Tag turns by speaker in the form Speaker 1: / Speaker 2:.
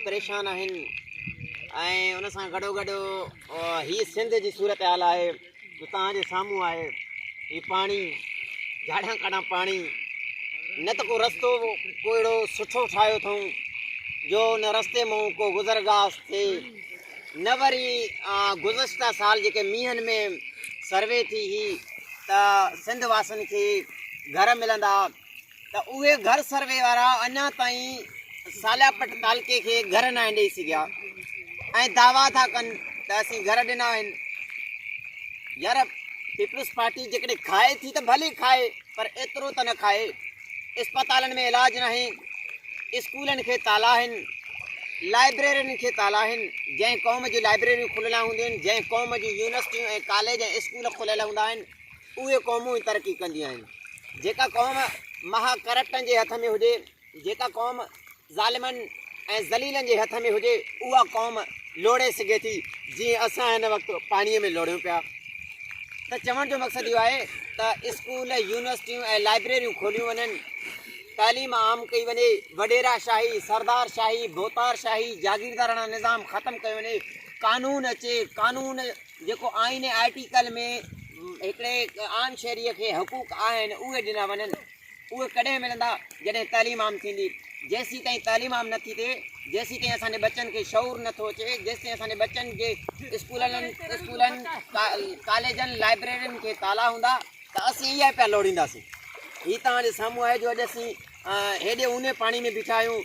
Speaker 1: پريشان آهن ۽ ان سان گڏو گڏ هي سنڌ جي صورتحال آهي جو توهان جي سامهون آهي هي پاڻي جاڙان ڪاڙان پاڻي نه ته ڪو رستو ڪو اهڙو سٺو ٺاهيو اٿئون جو ان رستي مون ڪو گذر گاس ٿئي نه وري گذشتہ سال جيڪي مينهن ۾ سروي ٿي هي ته سنڌ واسن کي گهر ملندا ته اهي گهر سروي وارا اڃا تائين سالياپٽ تعلقي کي گهر ناهن ڏئي سگهيا ۽ دعويٰ ٿا ڪن ته اسين گهر ڏنا آهن يار پيپلز پارٽي جيڪڏهن کائي ٿي ته ڀلي کائي پر ايترو ته نه کائي اسپتالن ۾ علاج ناهي اسڪولن کي تالا آهن لائبريرين کي تالا آهن جنهن قوم جون لائبريريون کليل هونديون آهن جنهن قوم جون يونيورسٽيون ۽ ڪاليج ۽ اسڪول کليل هوندا آهن اهي قومون ئي ترقي ڪنديون آهن، جيڪا قوم مها ڪرپٽن جي هٿ ۾ هجي، جيڪا قوم ظالمن ۽ ذليلن جي هٿ ۾ هجي، اها قوم لوڙهي سگهي ٿي، جيئن اسان هن وقت پاڻيء ۾ لوڙهيون پيا. ته چوڻ جو مقصد اهو آهي ته اسڪول، يونيورسٽيون ۽ لائبريريون کوليون وڃن، تعليم عام ڪئي وڃي، وڏيرا شاهي، سردار شاهي، ڀوتار شاهي، جاگيرداراڻا نظام ختم ڪيو وڃي، قانون اچي، قانون. جيڪو آئين ۽ آرٽيڪل ۾ هڪڙي عام شهريء کي حقوق آهن اهي ڏنا وڃن. اهي ڪڏهن ملندا جڏهن تعليم عام ٿيندي. جيسيتائين تعليم عام نٿي ٿئي جيسيتائين اسان جي ٻچن کي شعور نٿو اچي جيسيتائين اسان جي ٻچن جي اسڪولن ڪاليجن لائبريرين کي تالا هوندا ته اسين اها پيا لوڙينداسين. هي توهان جي سامهون آهي جو اڄ اسين هيڏي اونهي پاڻي ۾ بيٺا آهيون.